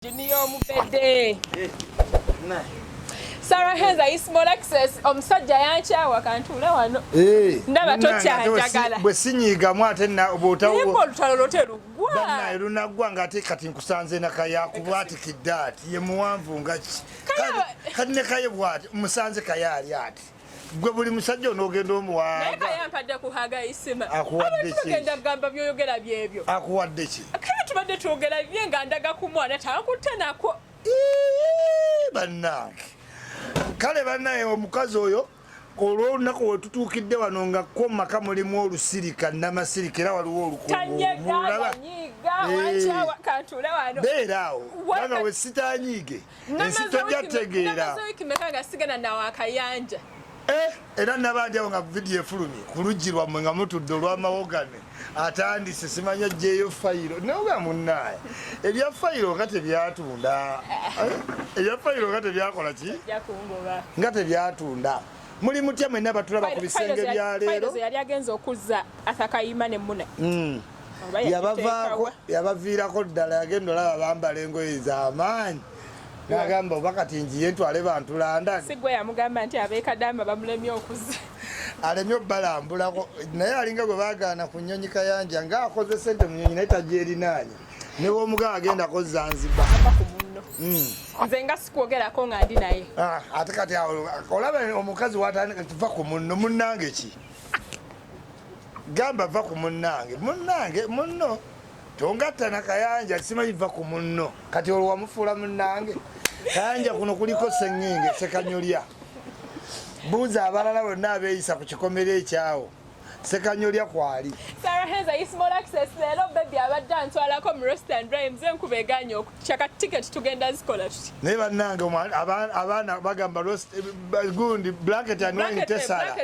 Junior Mubede. Nah. Sarah Hens ayi small access omusajja yankyawa kantuule wano eh, ndaba tokyanjagala bwe sinyiigamu ate olutalo lote luggwa lunaggwa ng'ate kati nkusanze nakaya kubwatikidde ati ye muwanvu nga ki kati ne kaye bwati musanze kaye ali ati gwe buli musajja onogenda omuwaaaakuwaddekyoyogerabyeebyo akuwaddeki kale tubadde twogera bye nga ndaga ku mwana takutte nako bannange kale bannaye omukazi oyo olwolunaku wetutuukidde wano nga kwo maka mulimu olusirika namasirika era waliwo olukubeera awo kubanga wesitanyiige ensi tojja tegeera eh, era nabandi awo nga vidiyo efulumye ku luggi lwammwe nga mutudde olwamawogane atandise simanya jeeyo fayiro naoga munaye ebya fayiro nga tebyatunda eh, ebya fayiro nga tebyakola ki nga tebyatunda muli mutya mwena batulaba ku bisenge bya leero yali agenza okuzza athakayima ne mune hmm. yabavaako yabaviirako ddala yagenda olaba bambala engoye zamaanyi nagamba oba kati njiye ntwale bantu london sigwe yamugamba nti abekadama bamulemye okuza alemye okubalambulako naye alinga gwe bagaana ku nyonyi kayanja nga akoze sente mu nyonyi naye tagyerinaanya newomugaa agenda ko zanzibar hmm. nze nga sikwogerako nga ndi naye ah, ate kati olaba omukazi watandika kiva ku munno munnange ki gamba va ku munnange munnange munno tongatta na kayanja simanyi va ku munno kati olwo wamufuula munnange kayanja kuno kuliko seŋŋinge sekanyolya buuza abalala bonna abeeyisa ku kikomera ekyawo sekanyolya kwali saraheza ismolaxes leero bebi abadde antwalako mu restaurant rhymes enkuba egaanye oku Chaka ticket tugenda zikola tuti. Naye bannange abaana bagamba eh, gundi blanket and wine eh, tesala.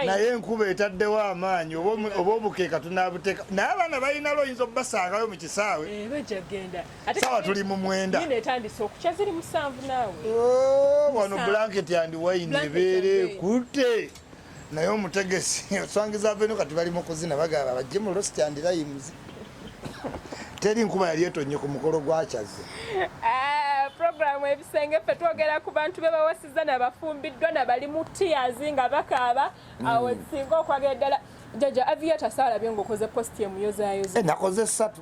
Naye enkuba etaddewo amaanyi oba obukeeka tunaabuteeka. Naye abaana balina looyinza okubasangayo mu kisaawe. Eh, bajja kugenda. Sawa tuli mu mwenda. Yine etandise okukya ziri musanvu naawe. Oh, wano blanket and wine ebeere ekutte. naye omutegesi oswangiza aveno kati bali mukuzina bagaba bajje mu lost and rhymes teri nkuba yali etonye ku mukolo gwakyaze ah, programu ebisenge ffe twogera ku bantu be bawasiza nabafumbiddwa nabali mu tears nga bakaaba mm. awo singa okwagala ddala jaja aviatasaalabye ngaokoze posti emuyozayoza eh, nakoze satu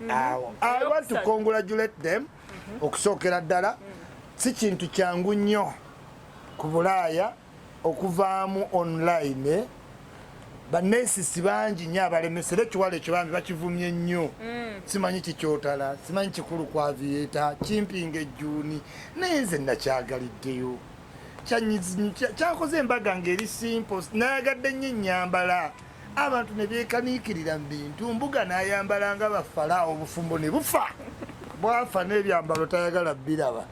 mm-hmm. awo i want to congratulate them mm-hmm. okusookera ddala si kintu kyangu nnyo ku bulaaya okuvaamu online eh? banensisi bangi nyo abalemesera ekiwala ekyo bambi bakivumye nnyo mm. simanyi kikyotala simanyi kikulu kwavieta kimpinga ejjuuni naye nze nakyagaliddeyo kyakoze embaga ngeri simple nayagadde nnyo ennyambala abantu ne beekaniikirira mu bintu mbuga nayambala nga bafala obufumbo ne bufa bwafa n'ebyambalo tayagala biraba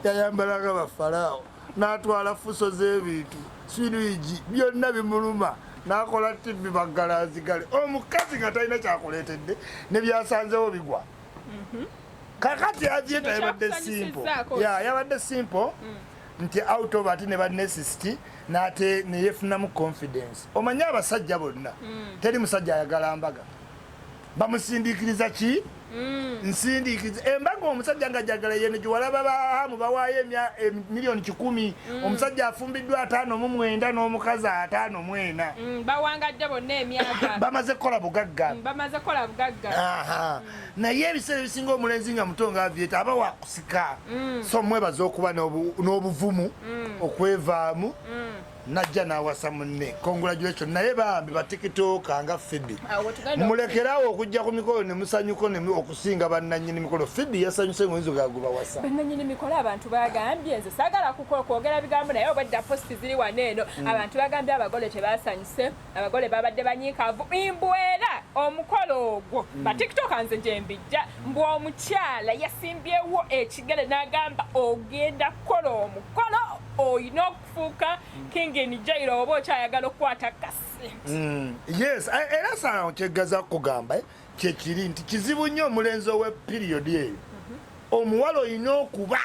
yayambala nga bafalaawo n'atwala fuso z'ebintu sirigi byonna bimuluma nakola tv baggalazigale omukazi nga talina kyakuleetedde ne byasanzewo bigwa mhm. kakati yajeeta yabadde simple ya yabadde simple mm. nti out of ati ne banesisti nate neyefunamu confidence omanye abasajja bonna mm. teri musajja ayagala mbaga bamusindikiriza ki mm. nsindikiriza embaga omusajja nga jagala yene giwalaba bahamu bawaayo emiliyoni kikumi mm. omusajja afumbiddwa ataano mu mwenda n'omukazi ataano mu ena mm, bawangadde bonna emyaka bamaze kukola bugagga mm, bamaze kukola bugagga naye ebiseera ebisinga omulenzi nga muto nga avyeta aba wakusika so mwebaza okuba n'obuvumu okwevaamu najja nawasa munne congratulation naye bambi batikitooka nga fibi ah, mulekerawo okujja ku mikolo nemusanyuko kusinga bannanyini mikolo fidi yasanyuse ngoyinza ogaguba wasa bannanyini mikolo abantu bagambye nze sagala kukola kwogera bigambo naye obwedda posti ziri wano eno mm. abantu bagambye abagole tebasanyuse abagole babadde banyiikavu imbwera omukolo ogwo mm. batiktoka nze gyembijja mbu omukyala yasimbyewo ekigere n'agamba ogenda kukola omukolo olina okufuuka mm. kingini jairo oba okyayagala okukwata kasi yes eh, era saa kyegaza kugamba eh? kyekiri nti kizibu nnyo omulenzi owe piriyodi eyo mhm. omuwala olina okuba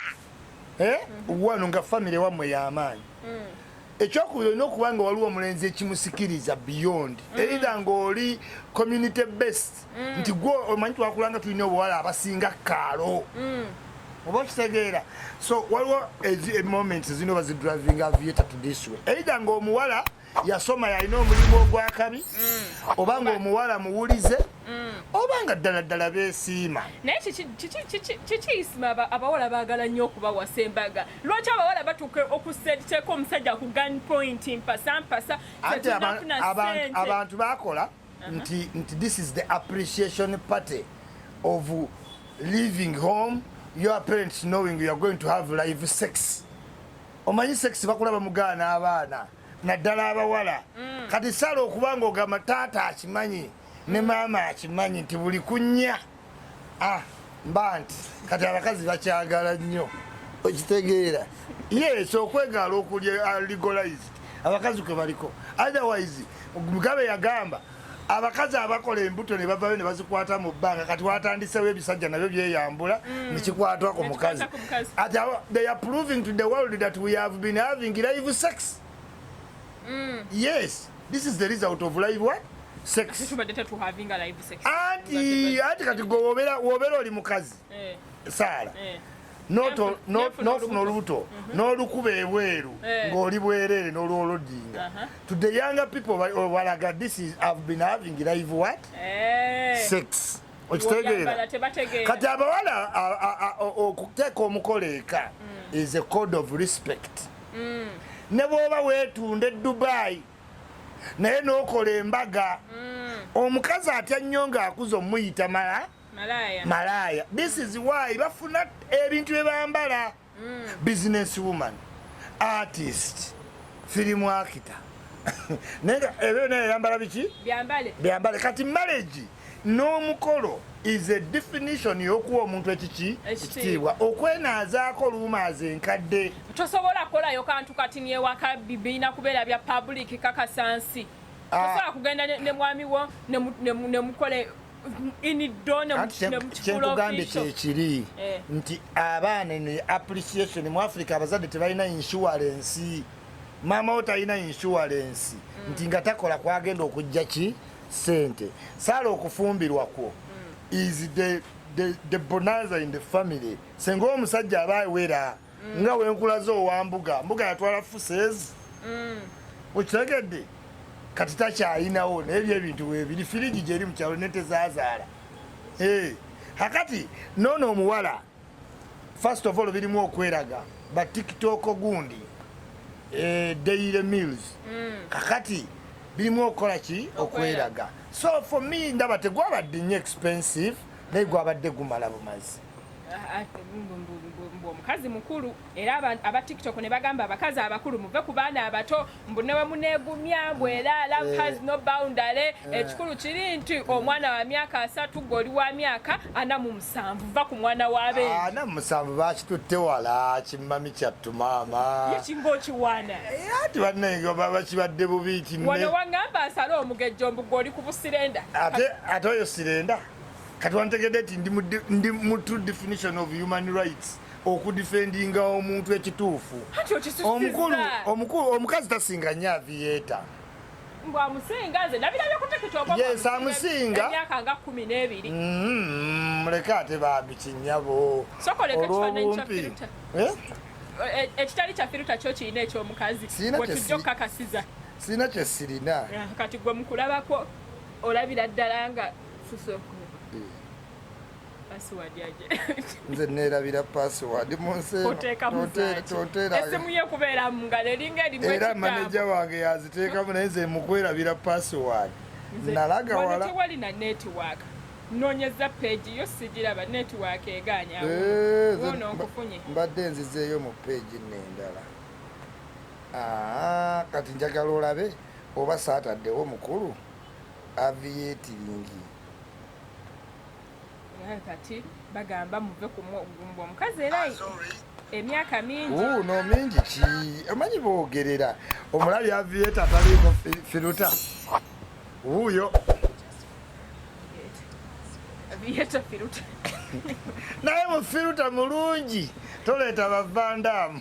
eh, mhm. wano nga famire wammwe yamaanyi mm. ekyokubiri olina okuba nga waliwo omulenzi ekimusikiriza beyond mm. eida ngaoli community best mm. nti gwe omanyi twakulanga tulina obuwala abasinga kaalo oba okitegeera so waliwo emoment zino bazidrivinga vieta to this way eida ngaomuwala yasoma yalina omulimu ogwakabi mm. oba nga omuwala muwulize mm. oba nga ddala ddala besiima naye kikiisima abawala bagala nnyo okubawasa embaga lwaki abawala batuuka okuseteeka omusajja ku gun point mpasampasa abantu bakola uh-huh. nti nti this is the appreciation party of living home your parents knowing you are going to have live sex omanyi sex bakula bamugaana abaana naddala abawala mm. kati sala okuba nga ogamba taata akimanyi ne maama akimanyi nti buli kunya ah, mba nti kati abakazi bakyagala nnyo okitegeera yes okwegaala okulya uh, legalized abakazi kwe baliko otherwise mugabe yagamba abakazi abakola embuto ne bavayo ne bazikwata mu bbanga kati watandisewo ebisajja nabyo byeyambula mm. nekikwatwa ku mukazi at they are proving to the world that we have been having live sex mm. yes this is the result of live what sex anti anti kati gwe wobera wobera oli mukazi eh. saala eh. nofuna olubuto mhm. n'olukuba ebweru eh. ng'oli bwereere n'olwolodinga uh-huh. to the younger people walaga this is have been having live what eh. sex okitegeera kati abawala okuteeka omukola eka mm. is a code of respect mm. ne bwoba weetunda e dubai naye n'okola embaga mm. omukazi atya nnyo ng'akuza omuyita mala malaaya malaaya this is why bafuna ebintu bye bambala mm. business woman artist film actor naye nga ebyo naye yambala biki byambale byambale kati marriage n'omukolo is a definition y'okuwa omuntu ekiki ekitiibwa okwenaazaako oluumaaza enkadde tosobola kukolayo kantu kati newaka bibirina kubeera bya public kakasansi ah. tosobola kugenda ne mwami wo ne mukole kyekugambye kyekiri eh. nti abaana ne appreciation mu africa abazadde tebalina insurance maama wo talina insurance mm. nti nga takola kwagenda okujja ki sente saala okufumbirwa kwo mm. is the, the, the bonanza in the family senga omusajja aba awera mm. nga wenkulaze owa mbuga mbuga yatwala fusezi mm. okitegedde kati takyalinawo naye byo ebintu webiri firigi gyeri mukyalo netezazaala eh, akati nono omuwala first of all birimu okweraga ba tiktok gundi eh, daily mills mm. kakati birimu okukola ki okweraga so for me ndaba tegwabadde nnyo expensive naye gwabadde gumala bumazi omukazi mukulu era aba tiktok ne bagamba abakazi abakulu muve ku baana abato mbu newe munegumya mbu era love has no boundary eh. ekikulu kiri nti omwana wa myaka asatu gwe oli wa myaka ana mu musanvu va ku mwana wa be ah, ana mu musanvu bakitutte wala kimmami kyattu maama yekinga okiwaana eh, ati bannange baba kibadde bubi nti wano wangamba asale omugejjo mbu gwe oli ku busirenda ate ate oyo sirenda kati wantegedde nti ndi mu true definition of human rights okudifendinga omuntu ekituufu omukulu omukulu omukazi tasinga nnyo aviyeeta yes amusinga mm-hmm. muleke ate bambi kinyabo olwobumpi eh? Eh, ekitali kyafiruta kyo kirina ekyomukazi wetujja okukakasiza sirina kyesirina eh, kati gwe mukulabako olabira ddala nga nze neerabira password mu nseera maneja wange yaziteekamu naye nze mukwerabira password nalaga wala nonyeza page yo sigiraba network eganya eh, ono nkufunye mbadde nzizeeyo mu page nendala ah, kati njagala olabe oba saataddewo mukulu aviyetiringi. Naye kati bagamba muve ku mugumba omukazi era emyaka mingi no mingi ki omanyi boogerera omulabi aviyeta ataliimu firuta wuuyo aviyeta firuta naye mufiruta mulungi toleeta bavandaamu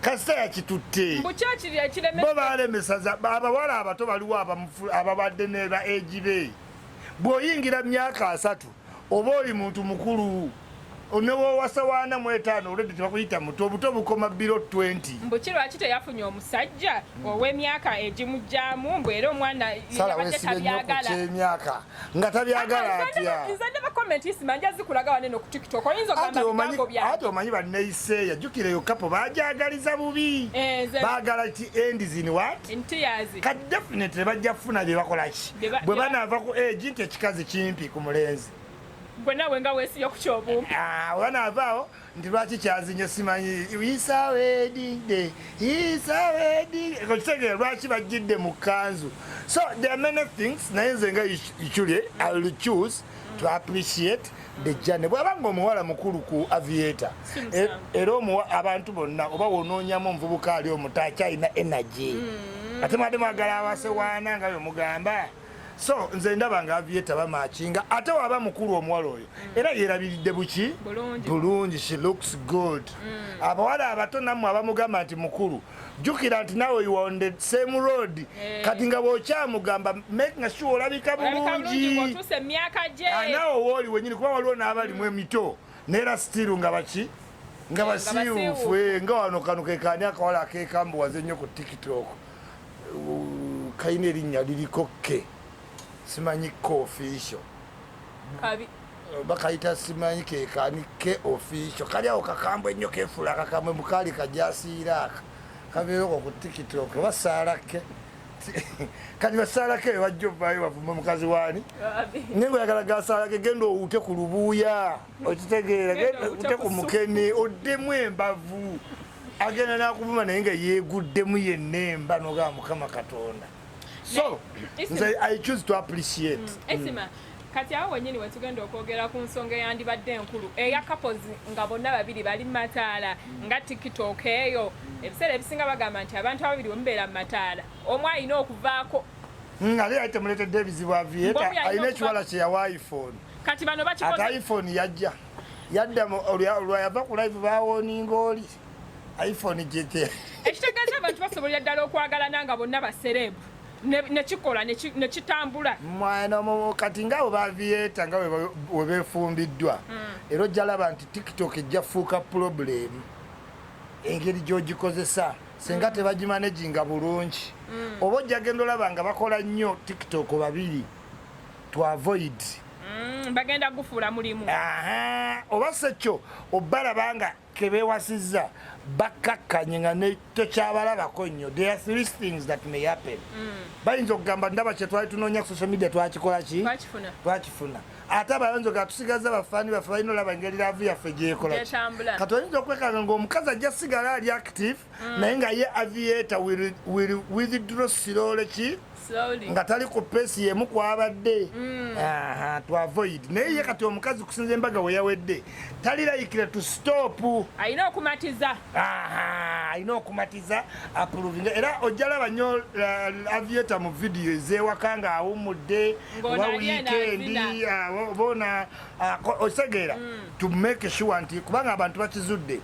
kasita yakitutte bo balemesaza abawala abato baliwo ababadde neba egibe bwoyingira myaka asatu oba oli muntu mukulu newowasa wana mwetaano olwedde tebakuyita muto obuto bukoma biro 20 mbu kirwaki teyafunye omusajja owemyaka egimugyamu mbu era omwana salaweesibe nyo ku kyemyaka nga tabyagala atya ati omanyi baneiseeya jukira eyo kapo bajagaliza bubi eh, bagala ti end zin wat ka definitely bajja kufuna byebakolaki bwe banava ku egi eh, nti ekikazi kimpi ku mulenzi gwe nawe nga wesiyo ku kyobumu ah, oba naavaawo nti lwaki kyazinye simanyi isawedide isawedide ekitegeera lwaki bajjidde mu kanzu so there are many things naye nze nga ichule i will choose to appreciate the journey bwaba nga omuwala mukulu ku aviator e, era abantu bonna oba wonoonyamu omuvubuka ali omuto akyalina energy mm. ate mwade mwagala awasewaana nga bemugamba so nze ndaba nga avieta bamakinga ate waba mukulu omuwala oyo mm. era yerabiridde buki bulungi she looks good mm. abawala abato namwe abamugamba nti mukulu jukira nti nawe you are on the same road eh. kati nga bwokyamugamba making sure olabika bulungi ah, nawe wooli wenyini kuba waliwo n'abalimu emito neera stiru nga baki nga basiiwufu eh, nga wano kano kekaani akawala akekambuwaze nnyo ku tiktok kalina erinnya liriko kke simanyi ke official bakayita simanyi kekani ke official kali awo kakambwe ennyo kefuula kakambwe mukaali kajasiira aka kabeeroko ku tiktok oba saala ke kati basaala ke wajja ovaayo bavuma mukazi waani naye ngoyagala gasaala ke genda owuute ku lubuuya okitegeera genda ku mukene oddemu embavu agenda nakuvuma naye nga yeguddemu yenna emba nogaa mukama katonda so nze i choose to appreciate mm. mm. kati awo wenyini wetugenda okwogera ku nsonga eyandibadde enkulu eya couples nga bonna babiri bali mu mataala nga tiktok eyo ebiseera ebisinga bagamba nti abantu ababiri wemubeera mu mataala omu alina okuvaako nga leyatemuletedde ebizibu avieta alina ekiwala kyeyawa iphone kati bano bakikoze ata iphone yajja yadda olwa yava ku live bawoninga oli iphone jete ekitegeeza abantu basobolera ddala okwagalana nga bonna baserebu nekikola nekitambula mwana kati nga bwe baviyeta nga webefumbiddwa hmm. era ojja laba nti tiktok ejja fuuka pulobulemu engeri gyogikozesa singa hmm. tebagimaneginga bulungi hmm. oba ojja genda olaba nga bakola nnyo tiktok babiri to avoid mm, bagenda gufuula mulimu oba sekyo obalaba nga kebewasizza bakkakkanye nga tekyabalabako nnyo there are three things that may happen mm. bayinza okugamba ndaba kyetwali tunoonya ku social media twakikola ki twakifuna ate abayonjo gatusigaza bafani baffe balina olaba engeri laavu yaffe gyekola kati oyinza okwekanga ngaomukazi ajja sigala ali active mm. naye nga ye aviator will, will withdraw slowly ki nga tali ku pesi yemu kwabadde mm. twavoid naye ye kati omukazi kusinza embaga weyawedde talilayikira to stop alina okumatiza alina okumatiza aprovinga era ojjalaba nyo uh, avieta mu vidiyo ezewaka nga awumudde oba wikendi bona uh, otegeera mm. to make sure nti kubanga abantu bakizudde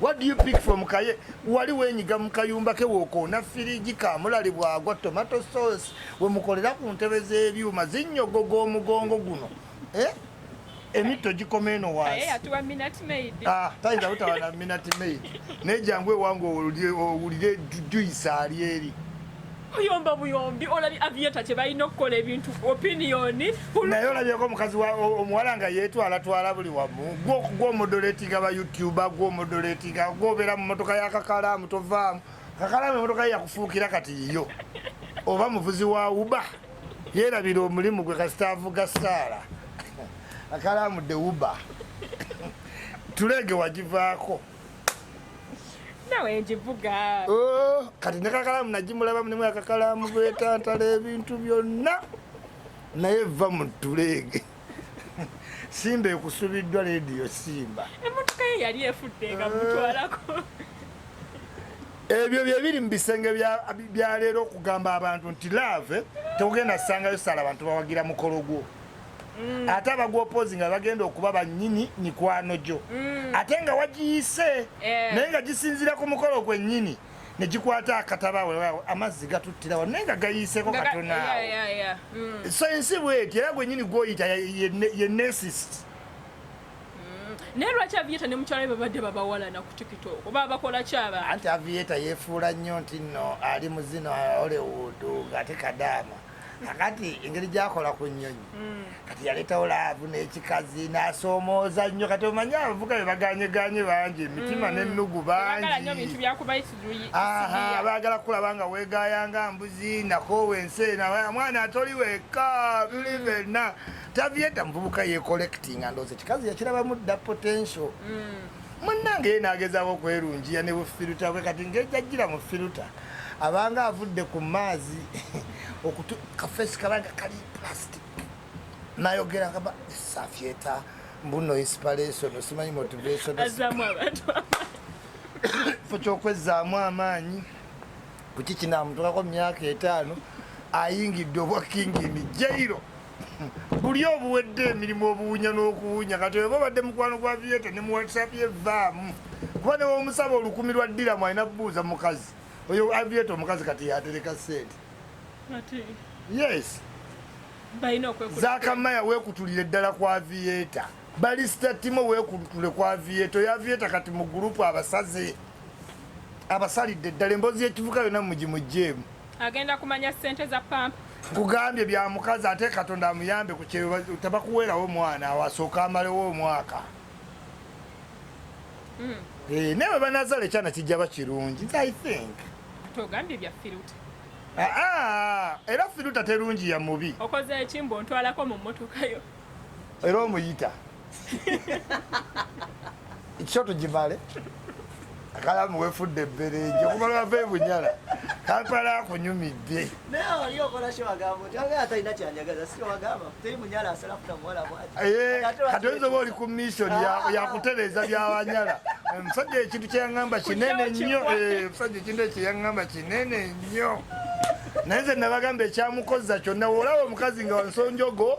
What do you pick from Kaye? Wali wenyiga mu kayumba ke wokoona firigi kaamulali bwagwa tomato sauce we mukolera ku ntebe z'ebyuma zinnyogoga omugongo guno eh? emitto gikoma eno waasitayinza ah, butawa na minati maid naye jangu ewange owulire juyisa ali eri Oyomba buyombi olabye avieta kyebalina okukola ebintu opinion naye olabyeko omukazi omuwala nga yetwala twala buli wamu gwomudoletinga ba youtuber gwomudoletinga gwobeera mu motoka yakakalaamu tovaamu kakalaamu emotoka ye yakufuukira kati yiyo oba muvuzi wa uba yerabira omulimu gwe kasita avuga saala akalaamu de uba tuleege wagivaako nawe njivuga oh, kati nekakalamu najimulabamu nemu akakalamu bwetantala ebintu byonna naye va mu tuleege simba ekusubiddwa lediyo simba emotoka ye yali efudde nga mutwalako ebyo byebiri mu bisenge byaleero okugamba abantu nti laave tekugenda sangayo sala abantu bawagira mukolo gwo mm. ate abagwopozi nga bagenda okuba banyini mikwano gyo mm. ate nga wagiyise eh. naye nga gisinzira ku mukolo gwennyini negikwata akataba wewawo amazzi gatuttirawo naye nga gayiiseko katonaawo mm. so ensi bweti era gwennyini gwoyita ye nesist naye lwaki avieta ne mukyala babadde babawalana ku tikito oba bakola kyaba anti avieta yefuula nnyo nti nno ali mu zino hollywood ng'ate kadaama kakati engeri gyakola ku nnyonyi mm. kati yaleetawo laavu n'ekikazi n'asoomooza nnyo kati omanyi abavuga be baganyeganye bangi emitima mm. n'ennugu bangibaagala kukulaba nga weegaaya nga mbuzi nakoowa ensi ena mwana atoli wekka bivenna tavieta muvubuka yekolectinga ndoozi ekikazi yakirabamu dda potential mm. munnange ye n'agezaako okwerungiya ne bufiruta bwe kati ngejajjira mu firuta abanga avudde ku maazi okutu kafesi kabanga kali plastic nayogera kaba safyeta mbuno inspiration osimanyi motivation azamu abantu fo kyokwezaamu amaanyi kuki kinamutukako myaka etaano ayingidde obwa kingi ni jairo buli obuwedde emirimu obuwunya n'okuwunya kati oba obadde mukwano gwa vieta ne mu whatsapp ye vaamu kuba newomusaba olukumi lwa ddiramu alina kubuuza mukazi oyo avieta omukazi kati yatereka sente yes zakamaya wekutulire ddala ku avieta balisita timo wekutule ku avieta oyo avieta kati mu gurupu abasaze abasalidde ddala emboozi yekivuka yona mugimugjeemu agenda kumanya sente za pamp nkugambye bya mukazi ate katonda amuyambe ku kyeyo tabakuweerawo omwana awasooka amalewo omwaka hmm. eh, naye webanazala ekyana kijja ba kirungi i think togambye bya firuta aa ah, ah, era firuta terungi ya mubi okoze ekimbo ntwalako mu mmotokayo era omuyita kyo tugimale akalamu wefudde ebberenje okumala wava ebunyala kampala akunyumidde naye oli okola kyo wagamba nti aba atalina kyanjagaza si wagamba teri munyala asala kuta muwala bwati eh, kati oyinza oba oli ku mission ah. yakutereeza byawanyala omusajja eh, ekintu kyeyaŋamba kinene nnyo omusajja eh, ekintu ekyeyaŋamba kinene nnyo naye nze nabagamba ekyamukozza kyonna olaba omukazi nga wansonjogo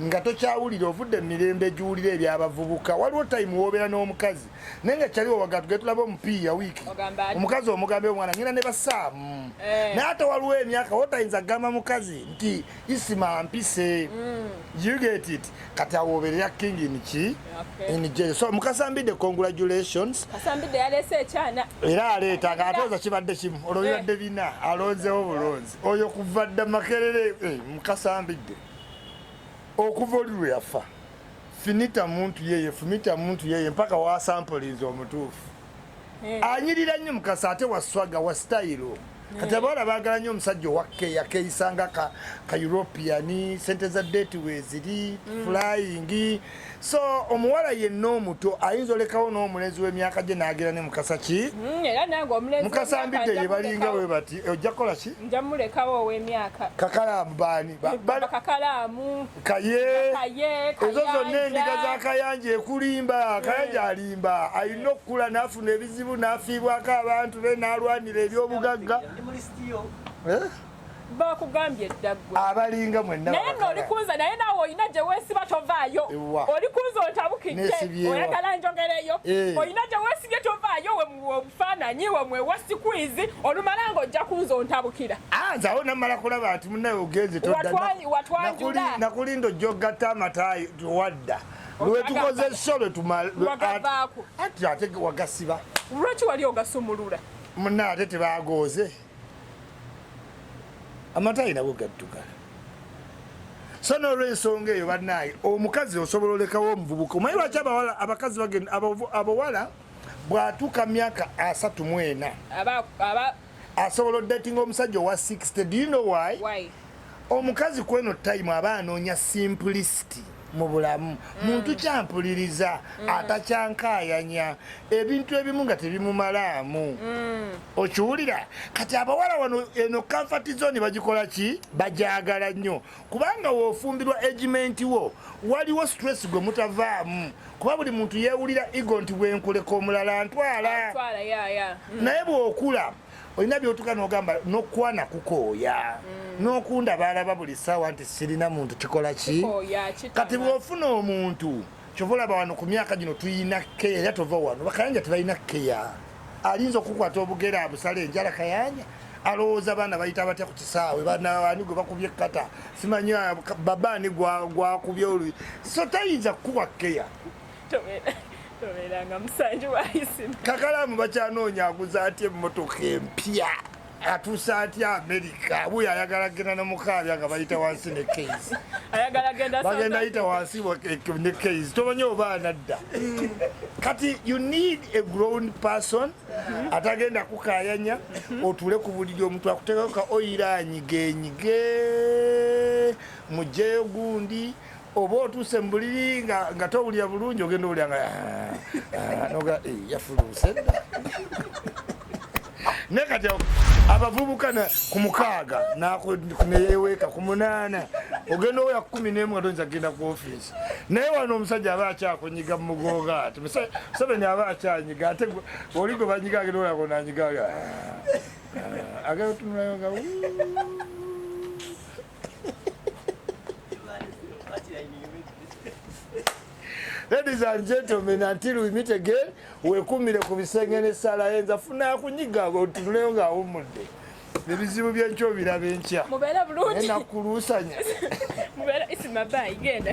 nga tokyawulira ovudde mumirembe giwulira ebyabavubuka waliwo time wobera n'omukazi naye nga kyali wawaga tugee tulaba omupiiya wiiki omukazi omugambe omwana ngenda ne basaamu eh. naye ate waliwo emyaka wotayinza kugamba mukazi nti isima mpise mm. you get it kati awoberera king inki inje so mukasambide congratulations kasambide yalese ekyana era aleeta nga atoza kibadde kimu olwo bibadde eh. bina alonzewo bulonzi oyo kuva dda makerere eh, mukasambide okuva oli lwe yafa finita muntu yeye fumita muntu yeye mpaka wasampulinza omutuufu eh. anyirira nnyo mukasa ate waswaga wa sitayiro eh. kati abawala baagala nnyo omusajja owakeya keeyisanga ka european sente za date weeziri mm. flying so omuwala yenna omuto ayinza olekawo n'omulenzi w'emyaka gye n'agera ne mukasa ki hmm, mukasa mbidde ye balinga we bati eh, ojja kukola ki kakalaamu baani kaye ezo zonna endiga za kayanja ekulimba kayanja hmm. alimba alina okukula n'afuna ebizibu n'afiibwako abantu be n'alwanira eby'obugagga eh? bakugambye dda gwe abalinga mwenna naye nno oli kunze naye naawe olina gye weesiba tovaayo oli kunze ontabukidde oyagala njogereyo eh. olina gye weesibye tovaayo webufaananyi wemwe wasikwizi olumala nga ojja kunze ontabukira ah, nze awo namala kulaba nti munawe ogenze nakulinda ojja ogatta amataayi towadda lwetukoze esho lwetumaate wagasiba lwaki wali ogasumulula munna ate tebagooze amatayi nago gaddugala so nolwensonga eyo banaye omukazi osobola olekawo omuvubuka omanyi lwaki abawala abakazi bagenda abawala bwatuuka myaka asatu mwena asobola odatinga omusajja owa 60 do you know why, why? omukazi kweno time aba anoonya simplicity mu bulamu mm. muntu kyampuliriza mm. atakyankayanya ebintu ebimu nga tebimumalaamu mm. okiwulira kati abawala wano eno comfort zone bagikola ki bajagala nnyo kubanga wofumbirwa agement wo waliwo stress gwe mutavaamu kuba buli muntu yewulira ego nti bwenkuleka omulala ntwala naye bwokula olina byotuka nogamba nokwana kukooya mm. nokunda balaba buli saawa nti sirina muntu kikola ki kati bwofuna omuntu kyova olaba wano ku myaka gino tuyina keya era tova wano bakayanja tebalina keya alinza okukwata obugere abusala enjala kayanja alowooza abaana bayita batya ku kisaawe banaani gwe bakubye kata simanya babaani gwakubye olu so tayinza kukuwa keya tobeeranga musanji waisima kakalamu bakyanoonya aguza atya emmotoka empya atuusa atya amerika abuyo ayagala genda nomukaabya nga bayita wansi ne keisi bagenda yita wansi ne keisi tomanyi oba anadda kati you need a grown person atagenda kukayanya otuule ku buliri omuntu akuteekako ka oyira anyigenyige mujeyo gundi oba otuuse mu buliri nga towulira bulungi ogenda owulira nga ah, ah, noga eh, yafuluuse ne kati abavubuka ku mukaaga neyeweeka ku munaana ogenda owoya kumi nemu nga toyinza kugenda ku ofiisi naye wano omusajja aba akyakunyiga mumugonga ati museveni aba akyanyiga ate oli gwe banyiga agenda oyako nanyiga ah, agenda otunulayo nga Ladies and gentlemen, until we meet again, wekumire ku bisenge ne sala yenza funa kunyiga go tuleyo nga umudde. Ebizibu byenkyo biraba enkya. Mubera bulungi. Ena kulusanya. Mubera isimabai genda.